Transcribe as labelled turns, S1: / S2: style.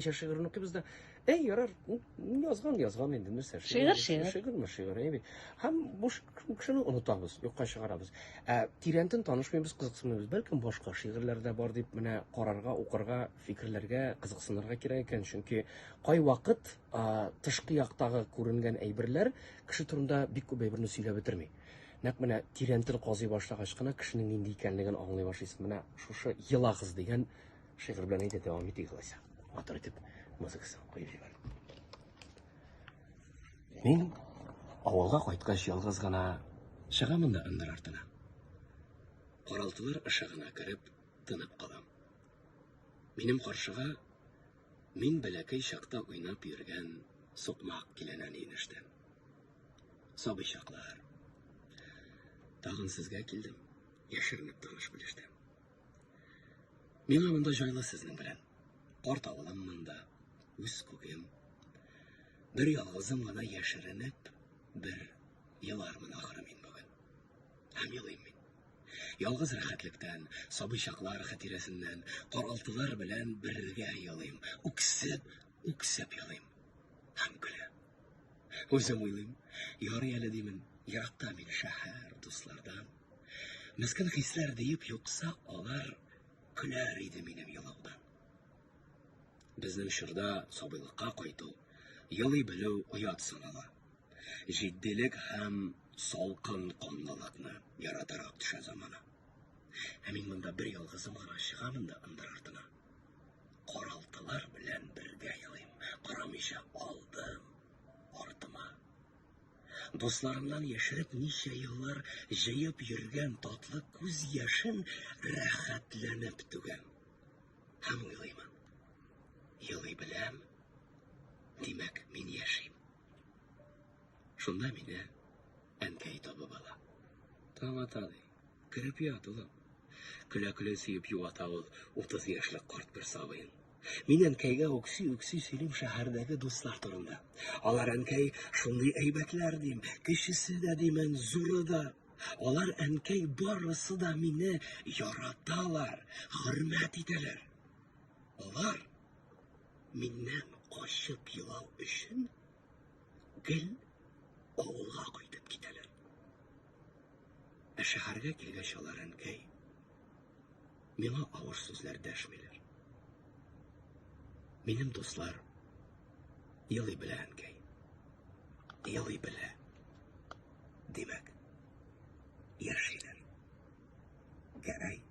S1: Ничә шигырен укыйбыз да, әй, ярар, язган, язган инде, нәрсә? Шигырь, шигырь. Шигырьме, шигырь, әйбит. Һәм бу кешене онытабыз, юкка чыгарабыз. Ә тирәнтен танышмыйбыз, кызыксынмыйбыз. Бәлкем башка шигырьләр дә бар дип менә карарга, укырга, фикерләргә, кызыксынырга кирәк икән. Чөнки кай вакыт тышкы яктагы күренгән әйберләр кеше турында бик күп әйберне сөйләп бетерми нәкъ менә тирәнтен казый башлагач кына кешенең нинди икәнлеген аңлый башлыйсың менә шушы елагыз дигән Шигырь белән әйтә дәвам итик алайса. Матур итеп музыкасын куеп җибәр. Мин авылга кайткач ялгыз гына чыгамын да ындыр артына. Каралтылар ышыгына кереп, тынып калам. Минем каршыга мин бәләкәй чакта уйнап йөргән сукмак киләнә нинештән. Сабый чаклар. Тагын сезгә килдем, яшеренеп таныш белештән. Миңа монда җайлы сезнең белән. Карт авылым монда, үз күгем. Бер ялгызым гына яшеренеп, бер елармын ахыры мин бүген. Һәм елыйм мин. Ялгыз рәхәтлектән, сабый чаклар хатирәсеннән, каралтылар белән бергә елыйм. Үксеп, үксеп елыйм. Һәм көлә. Үзем уйлыйм, ярый әле димен, еракта мин шәһәр, дуслардан. Мескен хисләр диеп юкса, алар көләр иде минем елаудан. Безнең чорда сабыйлыкка кайту, елый белү оят санала. Җитдилек һәм салкын канлылыкны яратарак төшә замана. Ә мин монда бер ялгызым гына чыгамын да ындыр артына. Каралтылар белән бергә елыйм, карамыйча алдым, артыма. Дусларымнан яшереп ничә еллар җыеп йөргән татлы күз яшен рәхәтләнеп түгәм. Һәм уйлыймын. Елый беләм, димәк, мин яшим. Шунда мине әнкәй табып ала. Таң ата, ди. Кереп ят, улым. Көлә-көлә сөеп юата ул 30 яшьлек карт бер сабыен. Мин әнкәйгә үкси-үкси сөйлим шәһәрдәге дуслар турында. Алар әнкәй шундый әйбәтләр дим, кечесе дә димен, зуры да. Алар әнкәй барысы да мине яраталар, хөрмәт итәләр. Алар миннән качып елау өчен гел авылга кайтып китәләр. Ә шәһәргә килгәч алар әнкәй Миңа авыр сүзләр дәшмиләр. Минем дуслар елый белә әнкәй. Елый белә. Димәк, яшиләр. Гәрәй.